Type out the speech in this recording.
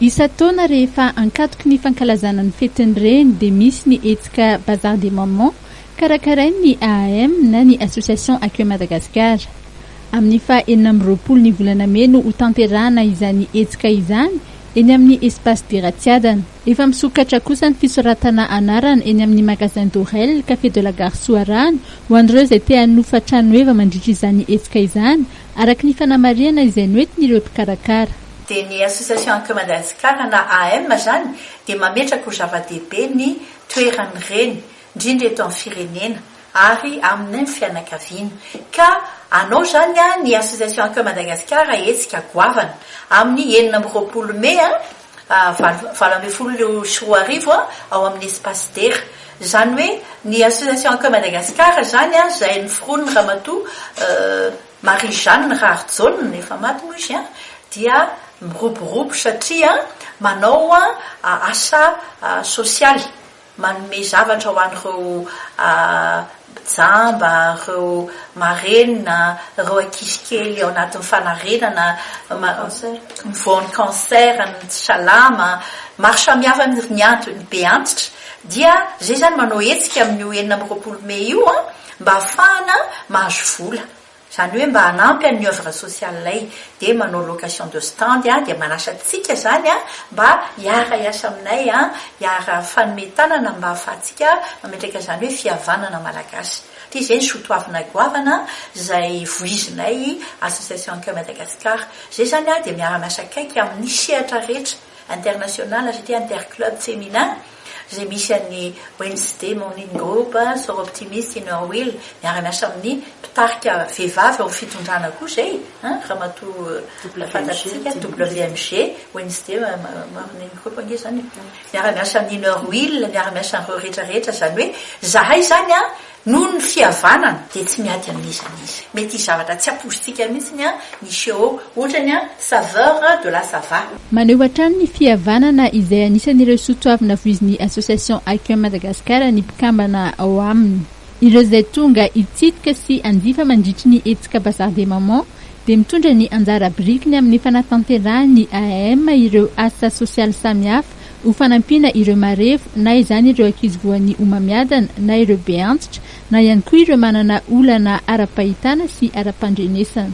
Isan-taona rehefa ankatoky ny fankalazana ny fetin'ny reny dia misy ny hetsika Bazar des Mamans karakarain'ny AAM na ny Association Accueil Madagascar. Amin'ny faha enina amby roapolo ny volana mey no hotanterahana izany hetsika izany eny amin'ny Espace Biratsiadana. Efa misokatra kosa ny fisoratana anarana eny amin'ny Magasin Dorel, Café de la Gare Soarano ho an'ireo izay te hanofa tranoheva mandritra izany hetsika izany araka ny fanamarihana izay noentin'ireo mpikarakara. Dia ny Association Anke Madagasikara na AM izany dia mametraka ho zava-dehibe ny toeran'ny reny, indrindra eto amin'ny firenena ary amin'ny fianakaviana. Ka hanao izany ny Association Anke Madagasikara hetsika goavana amin'ny enina amby roapolo mey. valo ambin'ny folo sy roa arivo ao amin'ny Espace Dera. Izany hoe ny Association Accueil Madagascar izany izay noforonin'ny Ramatoa Marie Jeanne Raharijaona, efa maty moa izy, dia miroborobo satria manao asa sosialy. manome zavatra ho an'ireo jamba, ireo marenina, ireo ankizy kely ao anatin'ny fanarenana, ny voan'ny cancer, ny tsy salama, maro samihafa mihitsy ny antony be antitra dia izay izany manao hetsika amin'io enina amby roapolo mey io mba hahafahana mahazo vola. Zany hoe mba hanampy an'ny œuvre sociale ilay dia manao location de stand dia manasa antsika zany mba hiara hiasa aminay hiara fanome tanana mba afahantsika mametraka zany hoe fihavanana malagasy dia zay ny soa toavina goavana zay vohizinay association Ankeo Madagascar zay zany dia miara miasa akaiky amin'ny sehatra rehetra International GT Inter Club Femina izay misy an'ny Wednesday Morning Group, Soro Optimist, Inner Wheel miara-miasa amin'ny mpitarika vehivavy ao amin'ny fitondrana koa izay Ramatoa fantatsika WMG, Wednesday Morning Group ange izany e. Miara-miasa amin'ny Inner Wheel, miara-miasa amin'ireo rehetra rehetra izany hoe izahay izany an, Noho ny fihavanana dia tsy miady amin'iza n'iza. Mety hisy zavatra tsy aposintsika mihitsy ny an'i Sheo, ohatra ny an'i Saveur de la Sava. Maneho hatrany ny fihavanana izay anisan'ireo soatoavina voizin'ny Association Aquin Madagascar ny mpikambana ao aminy. Ireo izay tonga hitsidika sy hanjifa mandritry ny hetsika Bazar des Mamans dia mitondra ny anjara birikiny amin'ny fanatanterahany AAM ireo asa sosialy samihafa ho fanampiana ireo marefo, na izany ireo ankizy voan'ny homamiadana, na ireo be antitra, na ihany koa ireo manana olana ara-pahitana sy ara-pandrenesana.